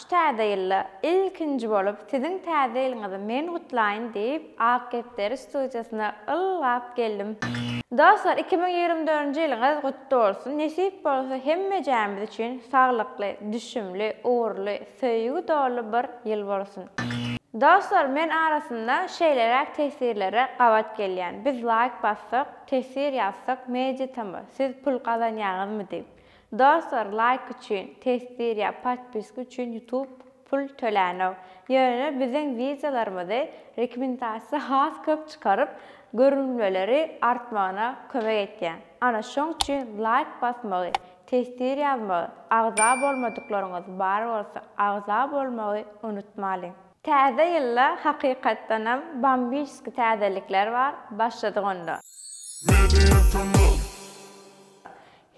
Şu Täze ýylda ilkinji bolup siziň Täze ýylyňyzy men gutlaýyn diýip Ak Gepderi studiýasyna ylgap geldim. Dostlar iki müň ýigrimi dördünji ýylyňyz gutly bolsun, nesip bolsa hemmejämiz üçin saglykly, düşümli, ugurly, söýgi doly bir ýyl bolsun. Dostlar men arasynda şeýleräk teswirlere gabat gelýän, biz laýk bassak, teswir ýazsak, media tamy, siz pul gazanýaňyzmy diýip. Dostlar laýk üçin, teswir ýa podpiska üçin ýutub pul tölänok. Ýöne biziň wideolarymyzy rekomendasiýa has köp çykaryp, görülmeleri artmagyna kömek etýär. Ana şoň üçin laýk basmagy, teswir ýazmagy, agza bolmadyklaryňyz bar bolsa agza bolmagy unutmalyň. Täze ýylda hakykatdanam bambiçski täzelikler bar, başladyk onda. Media kanal.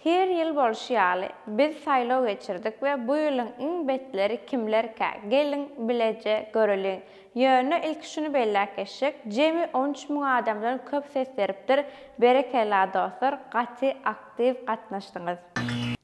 Her ýyl bolşy ýaly, biz saýlaw geçirdik we bu ýylyň iň betleri kimlerkä, geliň, bileje göreliň. Ýöne ilki şuny belläp geçjek, jemi on üç müň adamdan köp ses beripdir, berekella dostlar, gaty aktiw gatnaşdyňyz.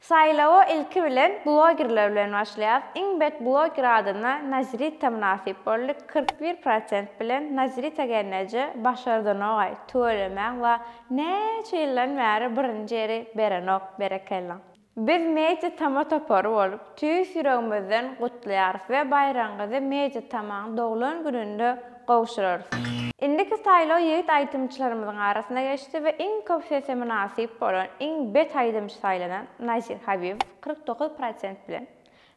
Saýlawa ilki bilen blogerler bilen başlaýas, iň bet bloger adyna Nazrita mynasyp boldy, kyrk bir prosent bilen Nazrita gelneje başardanogaý, tüwelemäň wa Näçe ýyldan bäri birinji ýeri berenok berekella. Biz Media Tama topary bolup tüýs ýüregimizden gutlaýarys we baýragyňyzy Media Tamaň doglan gününde gowşurarys. Indiki saýlaw ýigit aýdymçylarymyzyň arasyna geçdi we iň köp sese mynasyp bolan iň bet aýdymçy saýlanan Nazir Habibow kyrk dokuz prosent bilen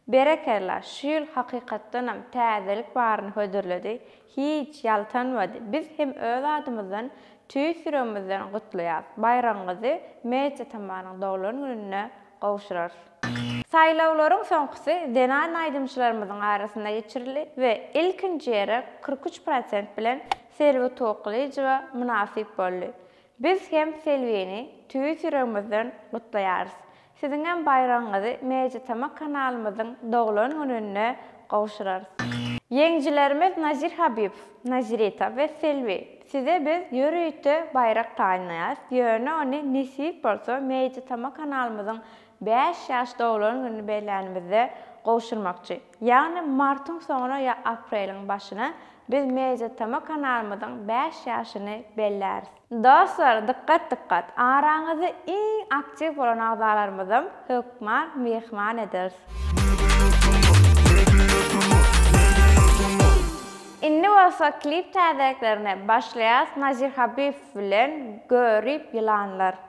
Berekella, şu ýyl hakykatdanam täzelik baryny hödürledi, hiç ýaltanmady, biz hem öz adymyzdan tüýs ýüregimizden gutlaýas, baýragyňyzy Mejit atamanyň doglan gününde gowşurarys. Saýlawlaryň soňkusy zenan aýdymçylarymyzyň arasynda geçirildi we ilkinji ýere kyrk üç prosent bilen Selbi Toklyjowa mynasyp boldy. Biz hem Selbini tüýs ýüregimizden gutlaýarys. Siziňem baýragyňyzy Meýjitama kanalymyzyň doglan gününde gowşurarys. Ýeňijilerimiz Nazir Habibow, Nazirita we Selbi, size biz ýörite baýrak taýynlaýarys, ýöne ony nesip bolsa Meýjitama kanalymyzyň bäş ýaş doglan gününi bellänimizde gowşurmakçy. Ýagny martyň soňuna ýa apreliň başyna biz MediaTama kanalymyzyň bäş ýaşyny belläris. Dostlar dykgat dykgat araňyzda iň aktiw bolan agzalarymyzam hökman myhman ederis. Indi bolsa klip täzeliklerine başlaýas Nazir Habibow bilen Görip ýylanlar.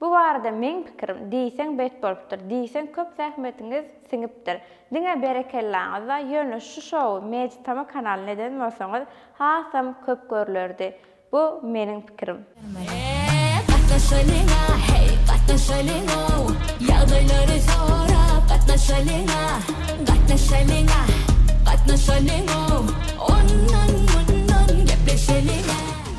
Bu barada meň pikirim, diýseň bet bolupdyr, diýseň köp zähmetiňiz siňipdir. Diňe berekellaňyz-da, ýöne şu şowy Meditama kanalyna eden bolsaňyz hasam köp görlerdi. Bu meniň pikirim. Eee gatnaşalyňa heý gatnaşalyňow ýagdaýlary sorap gatnaşalyňa gatnaşalyňa gatnaşalyňow ondan mundan gepleşeliňä.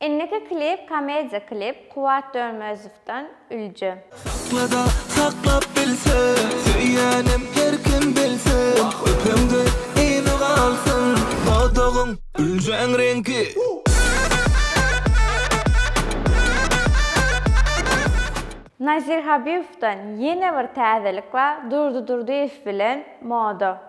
Indiki klip komediýa klip Kuwwat Dönmezowdan Ülje. Sakla-da saklap bilsin. Söýýänim her kim bilsin. Öpeňde ýyly galsyn. Dodagyň, üljeň reňki. Nazir Habiýewden ýene bir täzelik bar Durdy Durdyýew bilen Moda.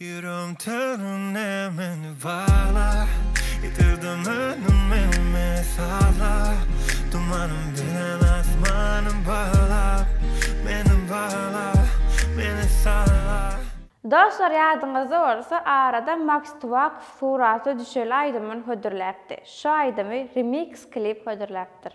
Ýürek törüne meni bagla, Ýitirdim önümi mesala, Dumanym bilen asmanym bagla, Meni bagla, meni sagla. Dostlar ýadyňyzda bolsa arada Maks Tuwakow suraty düşeli aýdymyny hödürläpdi. Şu aýdymy remix klip hödürläpdir.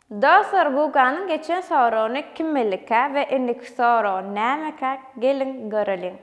Dostlar Guganyň geçen soragyny kimelikä we indiki soragy nämekä geliň göreliň.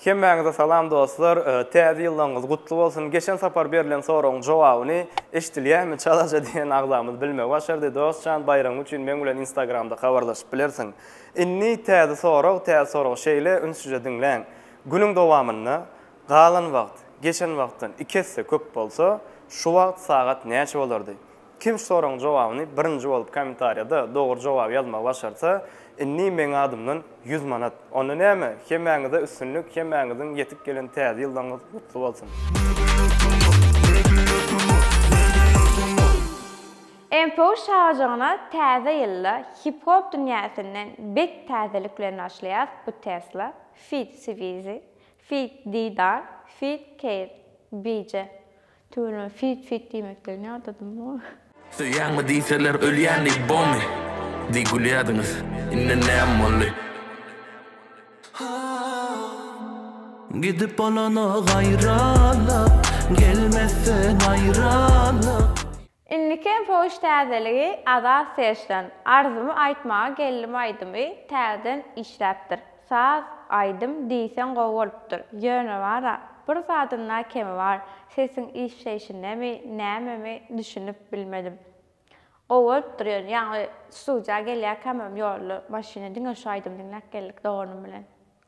Hemmäňize salam dostlar, Täze ýyllaryňyz gutly bolsun! Geçen sapar berlen soragyň jogabyny, eşdilýärmi, çalaja diýen agzamyz bilmegi başardy. Dost jan, baýragyň üçin meň bilen instagramda habarlaşyp bilersiň. Indi täze sorag, täze sorag şeýle, ünsüje diňläň. Günüň dowamynda, galan wagt, geçen wagtdan iki esse köp bolsa, şu wagt sagat näçe bolardy? Kim şu soragyň jogabyny birinji bolup komentarýada dogry jogaby ýazmagy başarsa, indi meň adymdan ýüz manat. Onda näme, hemmäňize üstünlik, hemmäňiziň ýetip gelen täze ýyllaryňyz gutly bolsun! MFO şajagyna täze ýylda hip hop dünýäsinden bet täzelik bilen başlaýas bu Tesla feat Swizi feat Didar feat Keýr BJ Tüweleme feat feat diýmekligini ýadadym bu. Söýýäňmi diýseler ölýän diý bomy diý gülýädiňiz indi näm boldy. Gidip bolana gaýralyk, gelmezse naýralyk. Indikem poçt täzeligi Azat Serçden, Arzumy aýtmaga geldim aýdymy täzeden işläpdir. Saz, aýdym diýseň gowy bolupdyr. Ýöne bar-a, bir zadynda kemi bar, sesiň işleýşindemi, nämemi, düşünip bilmedim. Gowy bolupdyr ýöne, ýagny studiýa gelýärkämem ýolda, maşynda diňe şu aýdymy diňläp geldik doganym bilen.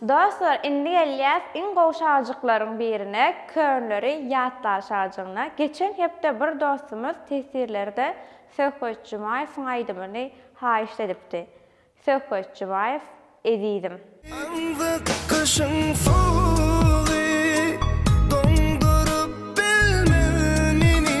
Dostlar indi gelýäs iň gowy şagjyklaryň birine könleri ýatlaşajygyna geçen hepde bir dostumyz tesirlerde Söhbet Jumaýewiň aýdymyny haýyşt edipdi Söhbet Jumaýew ezizim. Aňzyk gyşyň sowugy, doňduryp bilmez meni.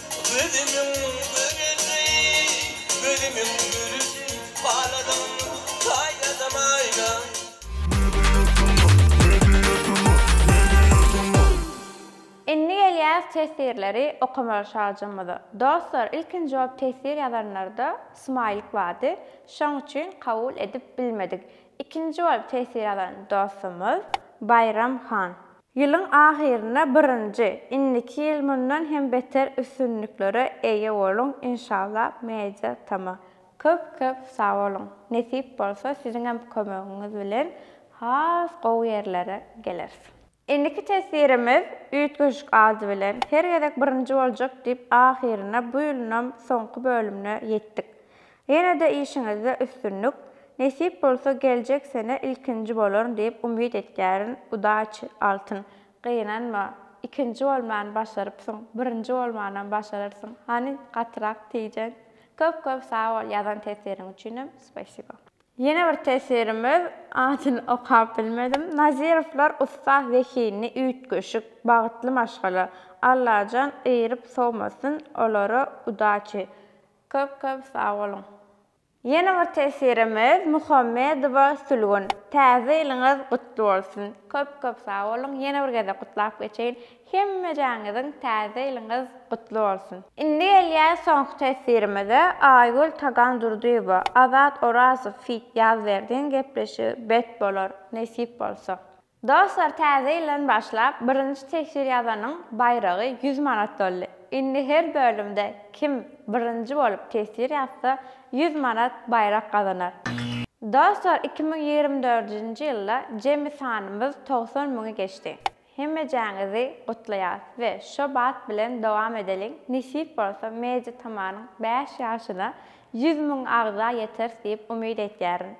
Gözümiň gürüsi, gözümiň gürüsi, Haladym, saýladym aýna. Ne diýersiň o, ne diýersiň o, ne diýersiň o. Indi gelýäs teswirleri okamaga şagjymyza. Dostlar ilkinji bolup teswir ýazanlarda smaýlik bardy, şoň üçin kabul edip bilmedik. Ikinji bolup teswir ýazan dostumyz Baýram han. Ýylyň ahyrynda birinji, indiki ýyl mundan hem beter üstünliklere eýe boluň inşallah Media tama. Köp köp sag boluň. Nesip bolsa siziňem kömegiňiz bilen has gowy ýerlere geleris. Indiki teswirimiz Üýtgeşik ady bilen her gezek birinji boljak diýip ahyrynda bu ýylyňam soňky bölümine ýetdik. Ýene-de işiňizde üstünlik, nesip bolsa geljek sene ilkinji bolaryn diýip umyt etýärin, udaçi, altyn. Gynanma, ikinji bolmany başarypsyň, birinji bolmanam başararsyň, hany gatyrak tijen. Köp köp sag bol ýazan tesiriň üçinem spasibo. Ýene bir tesirimiz, adyny okap bilmedim, Nazirowlar ussa zehinli üýtgeşik, bagtly maşgala, Allajan ýyryp sowmasyn olary, udaçi. Köp köp sag boluň. Ýene bir teswirimiz Muhammedowa Sülgün. Täze ýylyňyz gutly bolsun. Köp köp sag boluň. Ýene bir gezek gutlap geçeýin. Hemmejaňyzyň täze ýylyňyz gutly bolsun. Indi gelýär soňky teswirimize Aýgül Tagandurdyýewa, Azat Orazow feat Ýazberdiň gepleşigi bet bolar, nesip bolsa. Dostlar täze ýyldan başlap birinji teswir ýazanyň baýragy ýüz manat boldy. Indi her bölümde kim birinji bolup teswir ýazsa ýüz manat baýrak gazanar. Dostlar iki müň ýigrimi dördünji ýylda jemi sanymyz togsan müňi geçdi. Hemmejäňizi gutlaýas we şo bat bilen dowam edeliň nesip bolsa Media Tamanyň bäş ýaşyna ýüz müň agza ýeteris diýip umyt etýärin.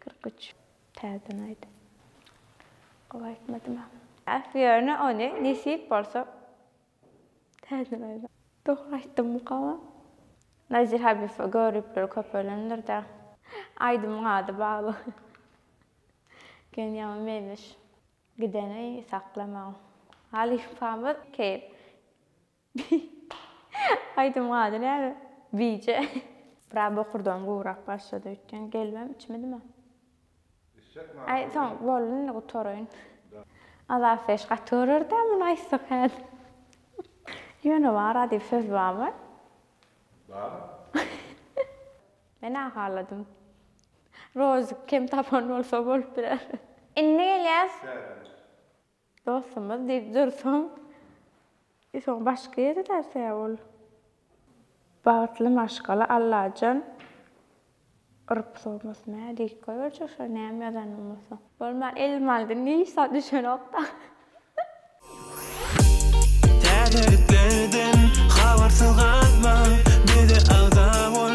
Kyrk üç. Täzeden aýt. Gowy aýtmadym-a. Äf, ýöne ony nesip bolsa täzeden aýt. Dogry aýtdymykam-a? Nazir Habifow göripleri köpelendir-dä. Aýdymyň ady bagly. Gen ýaman meňzeş. Gideni saklamaň. Halypamyz kel. Bih. Aýdymyň ady näme? Bije. Biraz bokurdagym gowurak başlady öýtgen gelibem içmedimä. Aý soň boldy indi gutaraýyn. Azat Fresh gaty görerdim muny aýtsak häzir. Ýöne bara diýip söz barmy? Bar. Men ahalladym. Rozik kem tapan bolsa bolup biler. Indi gelýäs. Täze. Dostumyz diýip dursuň. E soň başga ýere bärse ol. Bagtly maşgala Allajan urup sowmasyn hä lik goýberjek şo näme ýazanyny bolsa. Bolman elim aldy niş zat düşenokda. Täzeliklerden habarsyz galma bize agza bol.